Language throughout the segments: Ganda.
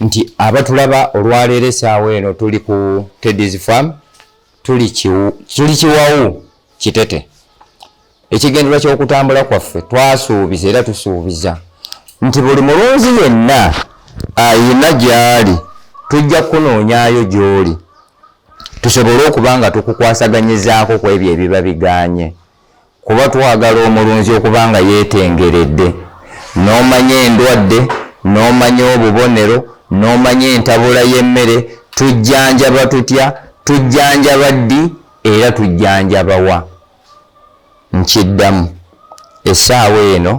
nti abatulaba olwaleero esaawa eno tuli ku tedis farm tuli kiwawu kitete ekigendererwa ky'okutambula kwaffe twasuubiza era tusuubiza nti buli mulunzi yenna ayina gy'ali tujja kukunoonyayo gy'oli tusobole okuba nga tukukwasaganyizaako ku ebyo ebiba biganye kuba twagala omulunzi okuba nga yeetengeredde n'omanya endwadde n'omanya obubonero n'omanya entabula y'emmere tujjanjaba tutya tujjanjaba ddi era tujjanjaba wa nkiddamu essaawa eno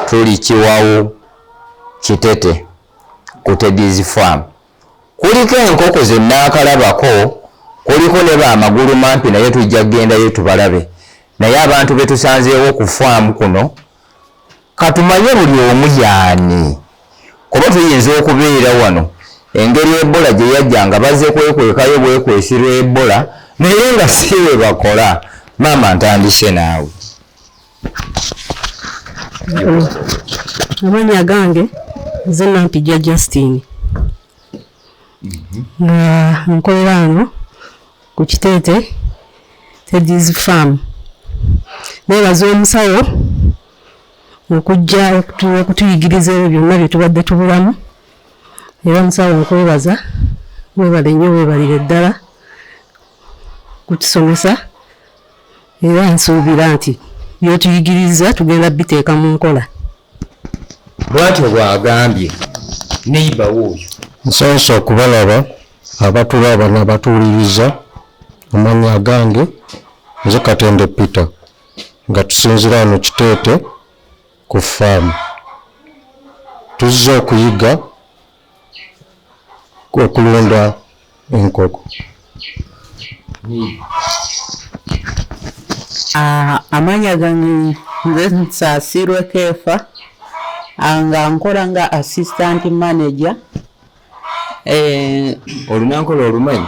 tuli kiwawu kitete ku tedis farm Kuliko enkoko ze nnaakalabako, kuliko ne ba magulumampi naye tujja kugendayo tubalabe naye abantu be tusanzeewo ku ffaamu kuno ka tumanye buli omu y'ani kuba tuyinza okubeera wano engeri Ebola gye yajja nga bazze kwekwekayo bwekwesirwa Ebola naye nga si bwe bakola. Maama ntandise naawe. amanya agange nze nampijja justine mhm. nga nkolera ano ku kiteete tedis farm nebaza omusawo okujja okutuyigiriza ebyo byonna byetubadde tubulamu era omusawo okwebaza webale nnyo webalire ddala kutusomesa era nsuubira nti by'otuyigirizza tugenda biteeka mu nkola. Bwatyo bw'agambye neyiba we oyo. Nsanyuse okubalaba abatulo abana batuwuliriza amannya agange nze Katende Peter nga tusinzira wano Kiteete ku ffaamu. Tuzze okuyiga. okulunda enkoko. Ah, amanya gange nze nsasirwe keefa ah, nga nkola nga assistant manager eh, olunankola olumanyi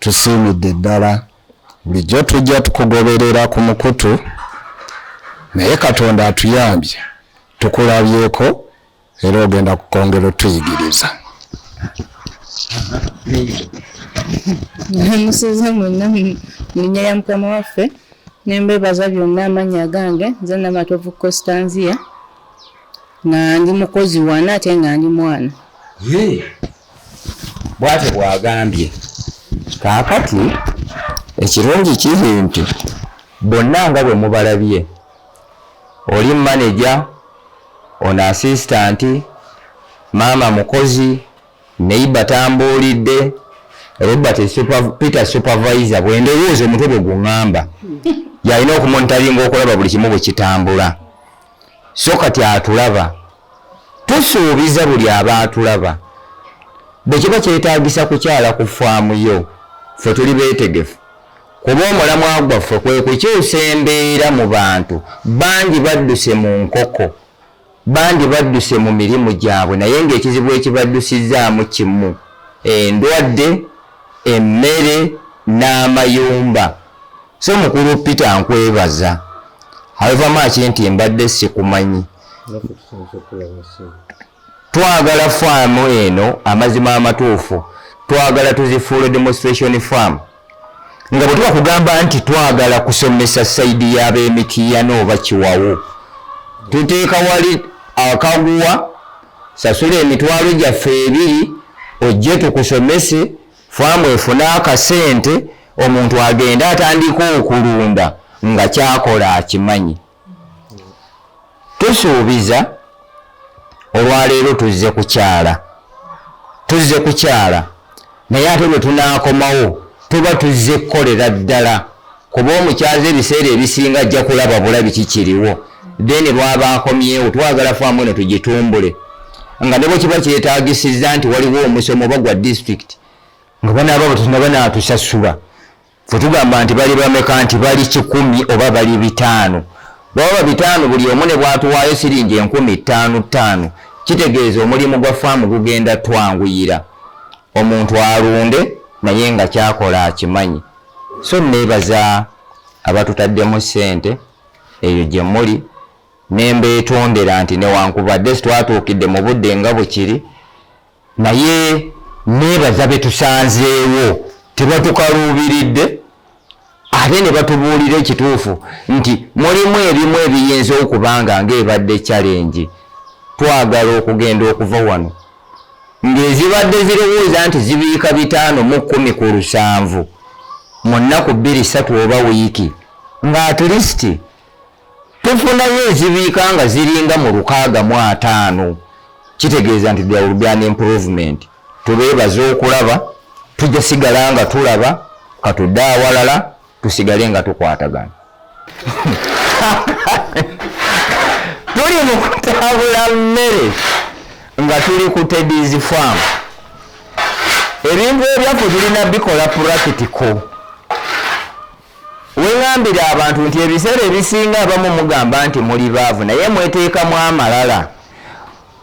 Tusiimidde ddala. Bulijjo tujja tukugoberera ku mukutu naye Katonda atuyambye tukulabyeko era ogenda kukongera otuyigiriza. Musuze mwenna mu linnya lya Mukama waffe ne mbeebaza byonna amannya agange nze Namatovu Constanzia nga ndi mukozi wano ate nga ndi mwana. bwatyo bwagambye kaakati ekirungi kiri nti bonna nga bwe mubalabye oli maneja ono asisitanti maama mukozi neiba tambuulidde robert super, peter supervisor bwendowooza omutwe bwe guŋŋamba yalina okumonitaringa okulaba buli kimu bwe kitambula so kati atulaba tusuubiza buli aba atulaba bwe kiba kyetaagisa kukyala ku faamu yo ffe tuli beetegefu kuba omulamwa gwaffe kwe kukyusa embeera mu bantu bangi badduse mu nkoko bangi badduse mu mirimu gyabwe naye ng'ekizibu ekibaddusizaamu kimu endwadde emmere n'amayumba So mukulu Peter nkwebaza however much nti mbadde sikumanyi twagala faamu eno amazima amatuufu twagala tuzifuule demonstration farm nga bwe tuba kugamba nti twagala kusomesa saidi y'ab'emitiyana oba kiwawo tuteeka wali akaguwa sasula emitwalo gyaffe ebiri ojje tukusomese Faamu efune akasente omuntu agende atandika okulunda nga kyakola akimanyi. Tusuubiza olwaleero tuzze kukyala tuzze kukyala naye ate lwe tunaakomawo tuba tuzze kukolera ddala kuba omukyaza ebiseera ebisinga ajja kulaba bulabi kikiriwo then lwaba akomyewo twagala faamu eno tugitumbule nga nebo kiba kyetagisiza nti waliwo omusomo oba gwa district nga banaaba batusina banatusasula fetugamba nti bali bameka nti bali kikumi oba bali bitaano baba bitaano buli omu ne bwatuwaayo siringi enkumi ttaano ttaano kitegeeza omulimu gwa faamu gugenda twanguyira omuntu alunde naye nga kyakola akimanyi so nebaza abatutaddemu ssente eyo gye muli ne mbeetondera nti newankubadde sitwatuukidde mu budde nga bwekiri naye nebaza betusanzeewo tebatukaluubiridde ate ne batubuulira ekituufu nti mulimu ebimu ebiyinza okubanga ng'ebadde kyalengi twagala okugenda okuva wano ng'ezibadde zirowooza nti zibiika bitaano mu kkumi ku lusanvu mu nnaku bbiri ssatu oba wiiki nga atilisiti tufunayo ezibiika nga ziringa mu lukaaga mu ataano kitegeeza nti there will be an improvement tubeebaza okulaba tujja sigala nga tulaba katudde awalala tusigale nga tukwatagana tuli mu kutabula mmere nga tuli ku tedis farm ebintu ebyaffe tulina bikola purakitiko Weŋambira abantu nti ebiseera ebisinga abamu mugamba nti muli baavu naye mweteekamu amalala.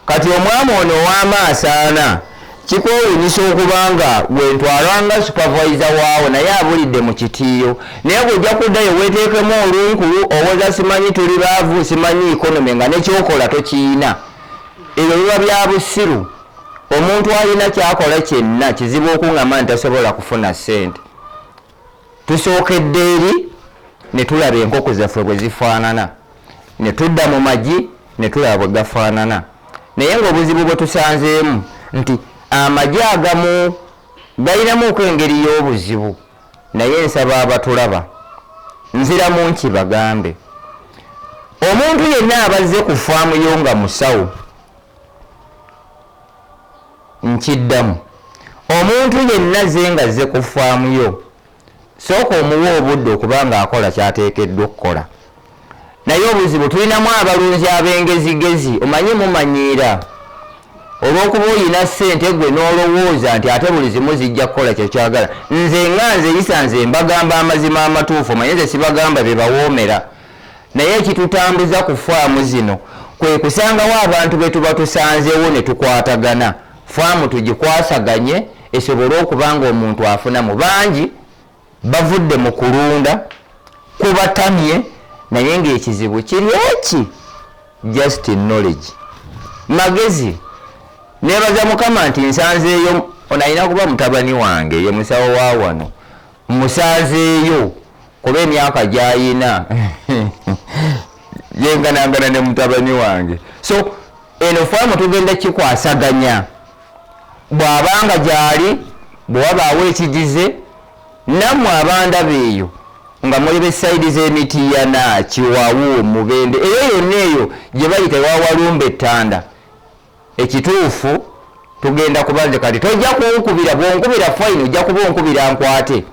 Kati omwami ono ow'amaaso ana kikwewunyisa okuba nga gwe ntwala nga supavayiza waawo naye abulidde mu kitiiyo. Naye gwe ojja kuddayo weeteekemu olunkulu owoza simanyi tuli baavu, simanyi economy nga ne ky'okola tokiyina. Ebyo biba bya busiru. Omuntu alina ky'akola kyenna kizibu okungamba nti tasobola kufuna ssente. Tusookedde eri ne tulaba enkoko zaffe bwe zifaanana, ne tudda mu magi ne tulaba bwe gafaanana naye ng'obuzibu bwe tusanzeemu nti amagi agamu galinamuuko engeri y'obuzibu naye nsaba abatulaba nziramu nki bagambe omuntu yenna abazze ku ffaamu yo nga musawo. Nkiddamu, Omuntu yenna azze nga azze ku ffaamu yo, sooka omuwe obudde okuba ng'akola ky'ateekeddwa okukola. Naye obuzibu tulinamu abalunzi ab'engezigezi, omanyi mumanyiira olw'okuba olina ssente gwe n'olowooza nti ate buli zimu zijja kukola kye kyagala. Nze nga nzeyisa nze mbagamba amazima amatuufu, omanyi nze sibagamba bye bawoomera. Naye ekitutambuza ku faamu zino kwe kusangawo abantu be tuba tusanzeewo ne tukwatagana faamu tugikwasaganye esobole okuba ng'omuntu afunamu. Bangi bavudde mu kulunda kubatamye naye ng'ekizibu kiri eki just knowledge magezi nebaza mukama nti nsanzeeyo ono alina kuba mutabani wange ye musawo wa wano Musanzeeyo kuba emyaka gyayina yenganangana ne mutabani wange so eno faamu tugenda kikwasaganya bw'abanga gyali bwe wabaawo ekigize nammwe abandaba eyo nga muli besaidi z'emitiiyana kiwawu mubende eyo yonna eyo gye bayita ewawalumba ettanda Ekituufu tugenda kuba nze kati tojja kunkubira bwonkubira fine ojja kuba onkubira nkwate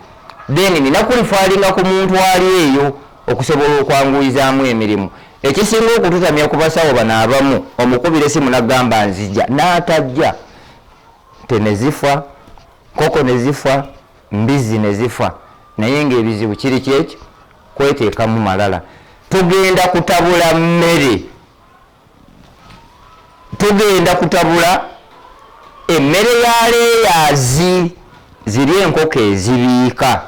then nina kulifaalinga ku muntu ali eyo okusobola okwanguyizaamu emirimu ekisinga okututamya ku basawo bano abamu omukubira esimu nagamba nzija n'atajja te ne zifa koko ne zifa mbizzi ne zifa naye ng'ebizibu kiri kyekyo kweteekamu malala tugenda kutabula mmere tugenda kutabula emmere ya leeyaazi ziri enkoko ezibiika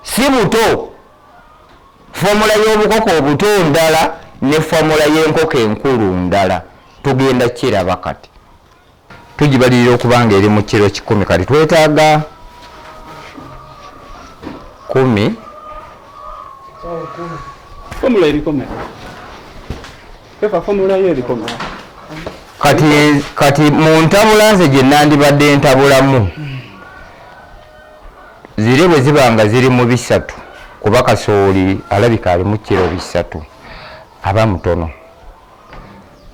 si buto fomula y'obukoko obuto ndala ne fomula y'enkoko enkulu ndala tugenda kiraba kati tugibalirira okuba nga eri mu kiro kikumi kati twetaaga kumi fomula erikome pepa fomula yo erikome kati kati mu ntabula nze gye nandibadde ntabulamu zire bwe ziba nga ziri mu bisatu kuba kasooli alabika alimu kiro bisatu aba mutono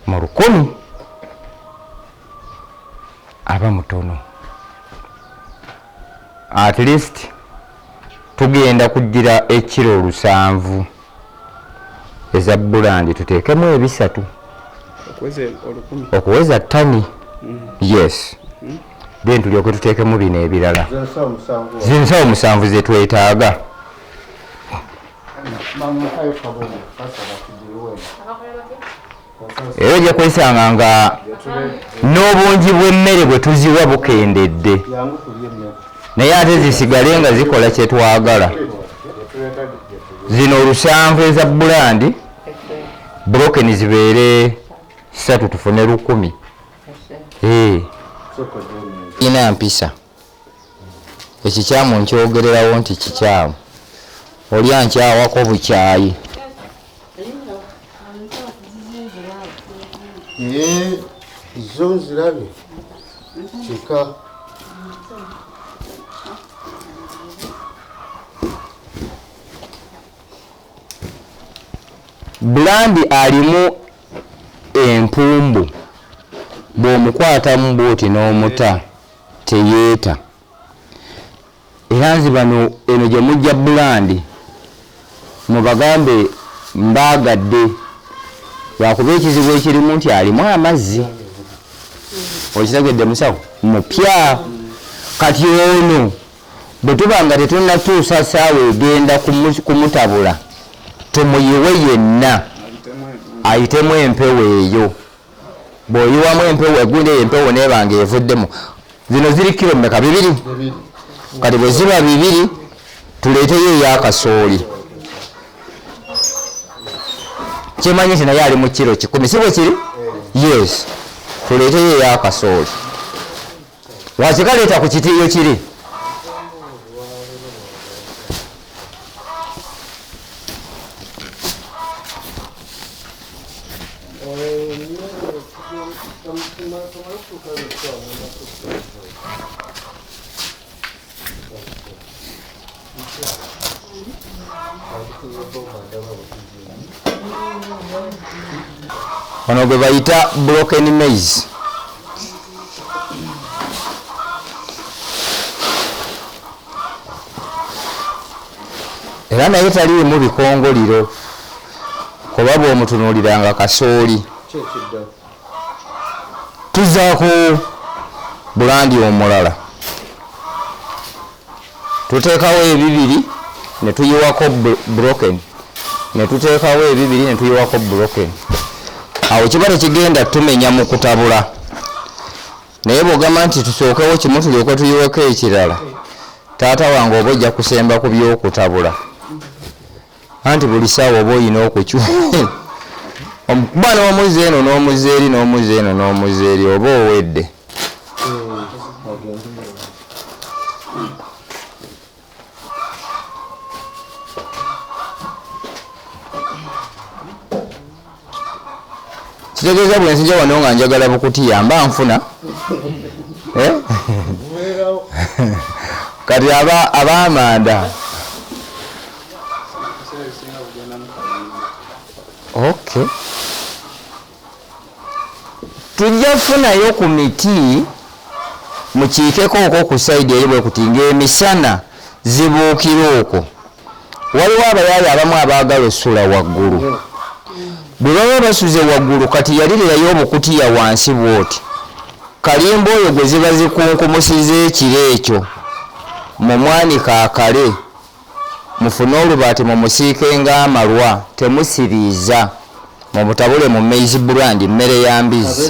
mu lukumi aba mutono at least tugenda kugira ekiro lusanvu eza bulandi tuteekemu ebisatu okuweza tani mm. yes mm. then tulyoke tuteekemu bino ebirala zinsawo musanvu zetwetaaga era ojja kwesanga nga n'obungi bw'emmere bwe tuziwa bukendedde naye ate zisigale nga zikola kye twagala zino olusanvu eza bulandi brokeni zibeere satu tufune lukumi ina mpisa ekikyamu nkyogererawo nti kikyamu oli ankyawako bukyayi eh, zo nzirabye kika bulandi alimu empumbu bw'omukwatamu bwoti n'omuta Teyeeta era nze bano eno gye mujja bulandi mubagambe mbaagadde lwakuba ekizibu ekirimu nti alimu amazzi okitegedde musawo mupya kati ono bwe tuba nga tetunatuusa saawa egenda kumutabula tumuyiwe yenna ayitemu empewo eyo bw'oyiwamu empewo eggunda eyo empewo neeba nga evuddemu zino ziri kiro mmeka bibiri kati bwe ziba bibiri tuleeteyo eyakasooli kyemanyi nti naye ali mu kiro kikumi si bwe kiri yes tuleeteyo eyakasooli wakikaleeta ku kitiiyo kiri ono gwe bayita broken maize era naye taliimu bikongoliro kuba bwomutunuuliranga kasooli tuzza ku bulandi omulala tuteekawo ebibiri ne tuyiwako broken ne tuteekawo ebibiri ne tuyiwako broken awo kiba tekigenda tumenya mu kutabula naye bwogamba nti tusookewo kimu tulyoke tuyiweko ekirala taata wange oba ojja kusemba ku byokutabula anti buli saawa oba oyina okukyu kuba n'omuzi eno n'omuzi eri n'omuzi eno n'omuzi eri oba owedde kitegeeza bwe nzija wano nga njagala bukutiya mba nfuna eh? kati abamanda ok tujja kufunayo ku miti mukiikeko okwo ku saidi eri bwekuti ngaemisana zibuukira okwo waliwo abayaaye abamu abaagala osula waggulu bwe baba basuze waggulu kati yalirirayo obukutiya wansi bwoti kalimba oyo gwe ziba zikunkumusiza ekiro ekyo mu mwanika akale mufune olubaati mumusiike ng'amalwa temusiriiza mubutabule mu maize brand mmere ya mbizi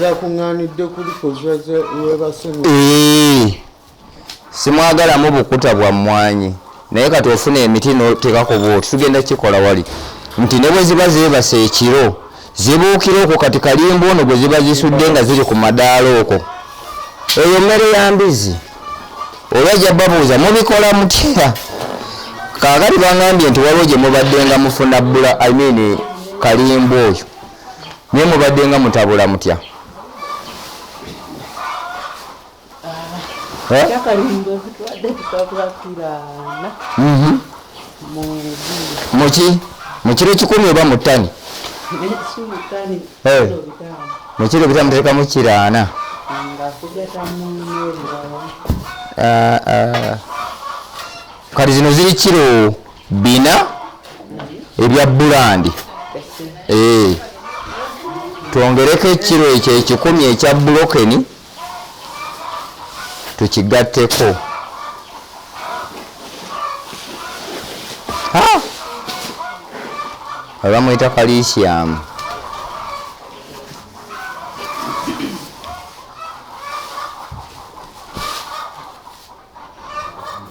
simwagalamu bukuta bwa mmwanyi naye kati ofuna emiti notekako bwoti tugenda kikola wali nti ne bwe ziba zeebasa ekiro zibuukira okwo kati kalimba ono gwe ziba zisudde nga ziri ku madaala okwo eyo mmere ya mbizi olwa ja babuuza mubikola mutya kaakati bangambye nti waliwo gye mubadde nga mufuna bula i mean kalimba oyo naye mubadde nga mutabula mutya Mhm. muki mukiro kikumi oba mutani mukiro bita mutekamu kiraana ah, ah. kati zino ziri kiro bina mhm. ebya bulandi eh. twongereko ekiro ekyo ekikumi ekya bulokeni tukigatteko bamuyita kalisiyamu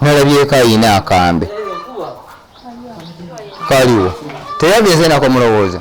nalabyeko ayina akambe kaliwo teyageze nako mulowooza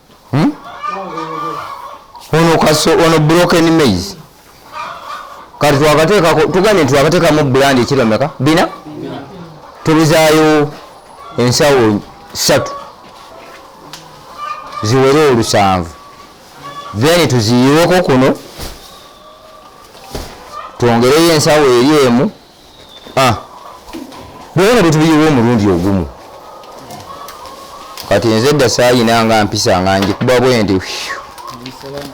hmm? ono kaso ono broken maize kati twakateekako tugambye nti twakateekamu bulandi ekiromeka bina tubizaayo ensawo satu ziwere olusanvu then tuziyiweko kuno twongereyo ensawo eri emu ah. bwona bwetubiyiwa omulundi ogumu kati nze dda sayina nga mpisa nga njikuba bwendi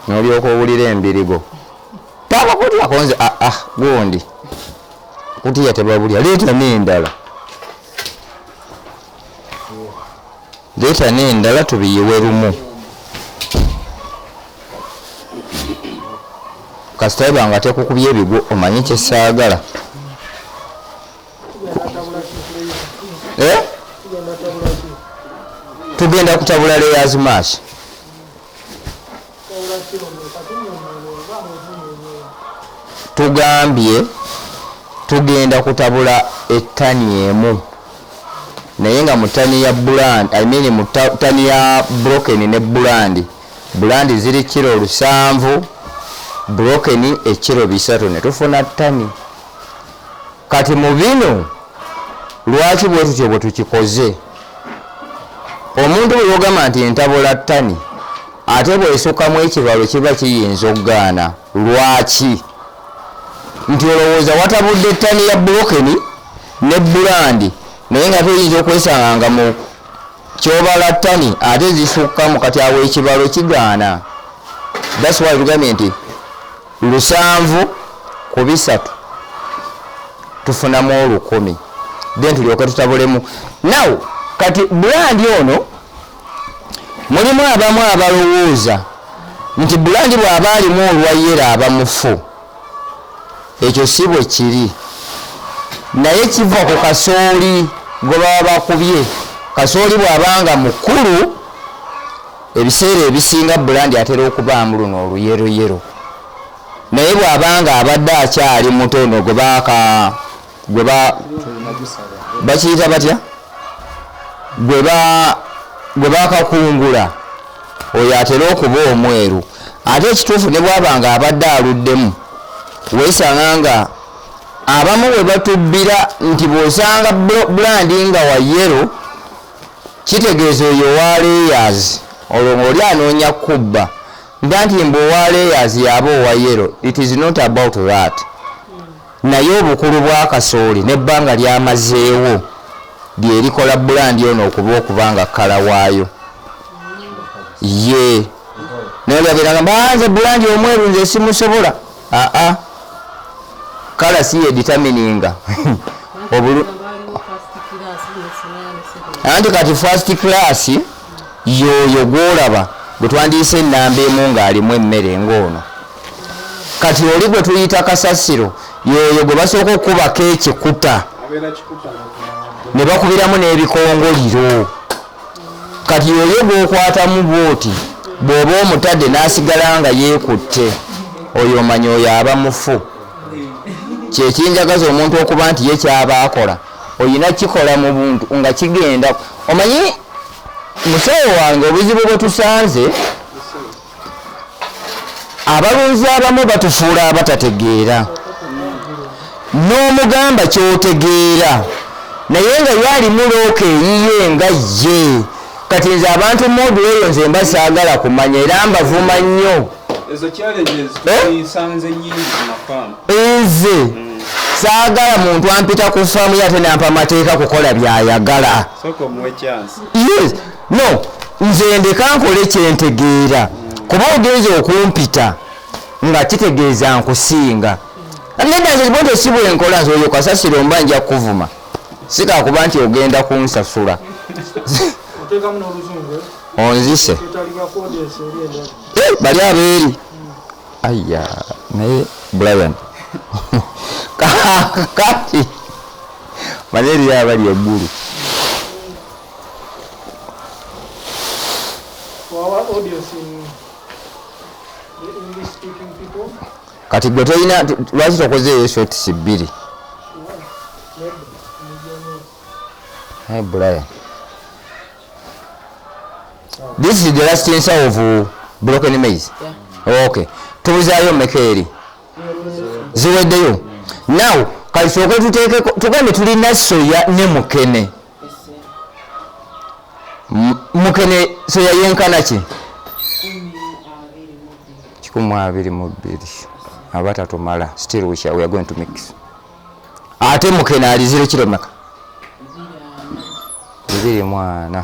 nolyoka owulira embirigo tabakulyako nze aa ah, ah, gundi kutiya tebabulya leeta nendala leeta n'endala tubiyiwe lumu kasita eba nga tekukubye ebigwo omanyi kyesaagala eh? tugenda kutabula leyazi maasi tugambye tugenda kutabula ettani emu naye nga mutani ya buland I mean mutani ya broken ne buland buland ziri kiro lusanvu broken ekiro bisatu netufuna tani kati mu bino lwaki bwe tutyo bwe tukikoze omuntu bwe yogamba nti entabula ttani ate bwesukamu ekibalo kiba kiyinza okugaana lwaki nti olowooza watabudde ettani ya bulokeni ne bulandi naye nga toyinza okwesanga nga mu kyobala ttani ate zisukkamu kati awo ekibalo kigaana that's why tugambye nti lusanvu ku bisatu tufunamu olukumi then tulyoke tutabulemu now kati bulandi ono mulimu abamu abalowooza nti bulandi bw'aba alimu olwayera aba mufu ekyo si bwe kiri naye kiva ku kasooli gwe baba bakubye kasooli bw'abanga mukulu Ebiseera ebisinga Bulandi atera okubaamu luno oluyeroyero naye bw'aba ng'abadde akyali muto ono gwe baaka gwe ba bakiyita batya gwe ba gwe bakakungula oyo atera okuba omweru ate ekituufu ne bwaba nga abadde aluddemu weesanga nga abamu bwe batubbira nti bw'osanga bulandi nga wayero Kitegeeza oyo owa layers olwo ngoli anoonya kubba nda nti mbu owa layers yaba owa yero it is not about that naye obukulu bwa kasooli nebbanga lyamazeewo lyerikola bulandi ono okuba okuba nga kala waayo ye naye lyaberanga banze bulandi omweru nze simusobola aa kala si ye determininga obulu anti kati first class yoyo gwolaba gwetwandiyisa enamba emu ngaalimu emmere ngaono kati oli gwe tuyita kasasiro yoyo gwe basooka okukubako ekikuta ne bakubiramu n'ebikongoliro kati yoyo gwokwatamu bwoti bwoba omutade nasigala nga yekutte oyo omanya oyo aba mufu kyekinjagaza omuntu okuba nti ye kyaba akola oyina kikola mu buntu nga kigenda omanyi musawo wange obuzibu bwetusanze abalunzi abamu batufuula abatategeera n'omugamba kyotegeera naye nga ye alimu looka eyiye nga ye kati nze abantu modu eyo nze mba saagala kumanya era mbavuma nnyo nze saagala muntu ampita ku faamu ye ate nampa amateeka kukola byayagala no nze ndeka nkole kyentegeera kuba ogenza okumpita nga kitegeeza nkusinga nedazibonte si bwenkola nti oyo kasasiro mba nja kukuvuma sikakuba nti ogenda kunsasula onzise eh, bali abeeri aya naye brian kati mane eriyo abali eggulu kati gwe tolina lwaki tokoze eyo shotisi bbiri naye brian this is the last insa of uh, broken maize yeah. okay tubuzayo meka eri ziweddeyo now kati kyoke tuteekeko tugambe tulina soya ne mukene mukene soya yenkana ki kikumi abiri mu bbiri aba tatumala still we shall we are going to mix ate mukene alizire kiromeka bibiri mwana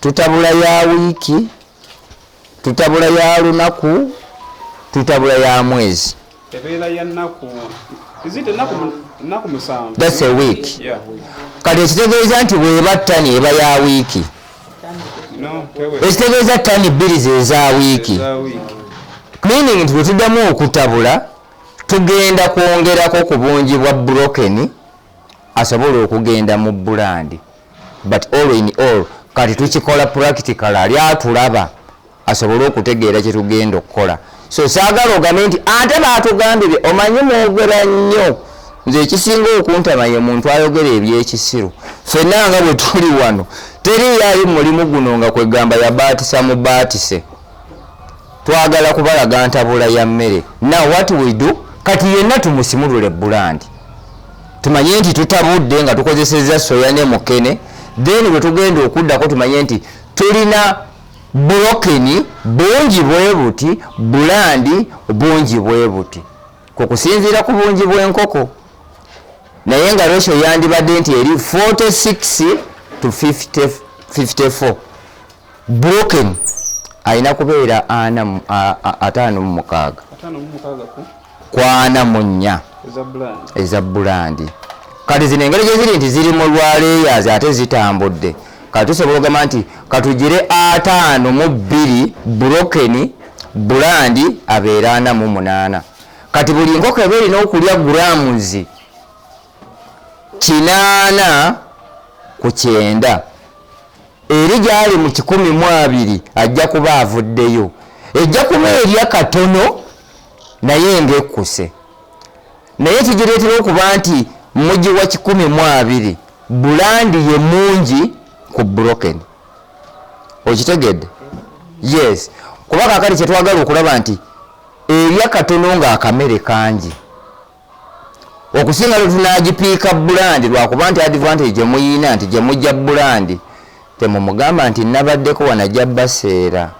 tutabula ya wiiki tutabula ya lunaku tutabula ya mwezi ebeera ya nnaku that's a week kati ekitegeeza nti bweba ttani eba ya wiiki ekitegeeza ttani bbiri zeza wiiki meaning nti bwetuddamu okutabula tugenda kwongerako ku bungi bwa brokeni asobola okugenda mu bulandi but all in all kati tukikola practical ali atulaba asobole okutegeera kyetugenda okukola so saagala ogambe nti ate baatugambye omanyi mwogera nnyo nze ekisinga okuntama ye muntu ayogera ebyekisiru fenna nga bwe tuli wano teri yali mulimu guno nga kwegamba yabaatisa mubaatise Twagala kubalaga ntabula ya mmere. Now what we do, kati yenna tumusimulule bbulandi tumanye nti tutabudde nga tukozesezza soya ne mukene then bwe tugenda okuddako tumanye nti tulina bulokeni bungi bwe buti bulandi bungi bwe buti ku kusinziira ku bungi bw'enkoko naye nga ratio yandibadde nti eri 46 to 54 broken alina kubeera ana ataano mu mukaaga kwana mu nnya eza bulandi kati zino engeri gye ziri nti ziri mu lwaleeyazi ate zitambudde kati tusobola ogamba nti katugire ataano mu bbiri broken bulandi abeera ana mu munaana kati buli nkoko eba erina okulya guramuzi kinaana ku kyenda Eri gy'ali mu kikumi mu abiri ajja kuba avuddeyo. Ejja kuba erya katono naye ng'ekkuse. Naye ekigireetera okuba nti mugiwa kikumi mu abiri, bbulandi ye mungi ku Broken. Okitegedde? Yes. Kuba kaakati kye twagala okulaba nti erya katono ng'akamere kangi. okusinga lwe tunaagipiika bulandi lwakuba nti advantage gye muyiina nti gye mujja bulandi temumugamba nti nabaddeko wanajja baseera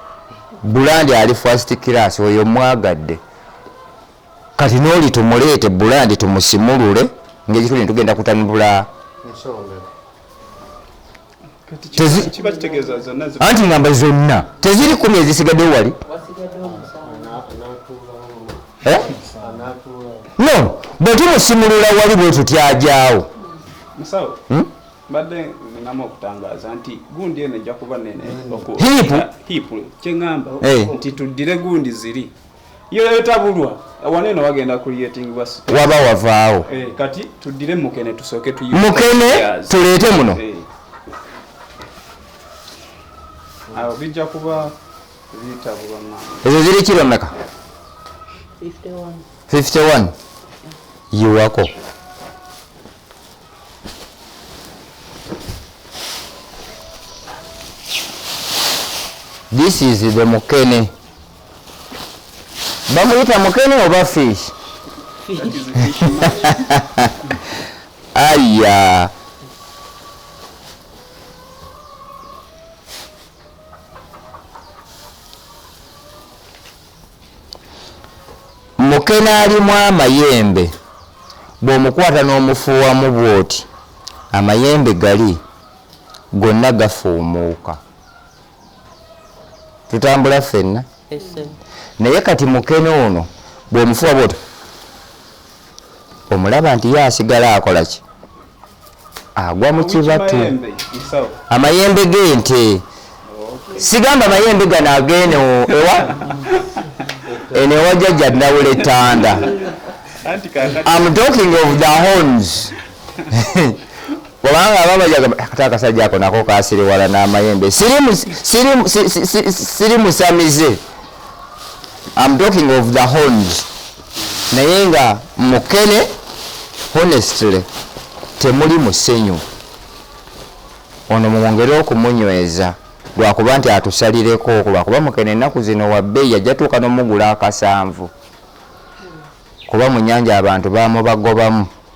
bulandi ali first class oyo mwagadde kati n'oli tumuleete bulandi tumusimulule ng'ekituli ne tugenda kutanibula anti ngamba zonna teziri kumi ezisigaddewo wali eh? no bwetumusimulula wali bwetutyajawo hmm? mbadde ninamu okutangaza nti gundi eno ejja kuba nene hiipu kyeŋamba eh. nti tuddire gundi ziri yoyotabulwa wano eno wagenda creatingibwa waba wavaawo eh, kati tuddire mukene tusooke tu mukene tuleete muno eh. awo bijja kuba bitabulwa ezo ziri kiro naka 51 yiwako this is the mukene bamuyita mukene oba fish aya mukene alimu amayembe bw'omukwata n'omufuuwamu bw'oti amayembe gali gonna gafuumuuka tutambula ffenna naye kati mukene ono bwomufuwa bwoto omulaba nti ye asigala akola ki agwa mu kibatu amayembe g'ente sigamba mayembe gano agene ewa eno ewa jajja nawula etanda am talking of the homes kubanga ababajaga kati akasajja ako nako kasiriwala n'amayembe siri musamize am talking of the horns naye nga mukene honestly temuli musenyu ono mumwongere okumunyweza lwakuba nti atusalireko lwakuba mukene ennaku zino wabbeyi yajja tuuka nomugula akasanvu kuba mu nyanja abantu bamubagobamu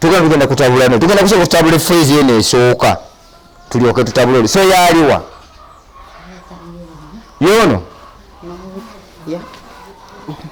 tugenda tugenda kutabula no tugenda kusobola kutabula efeezi eno esooka tulyoke tutabule oli so yaaliwa yoono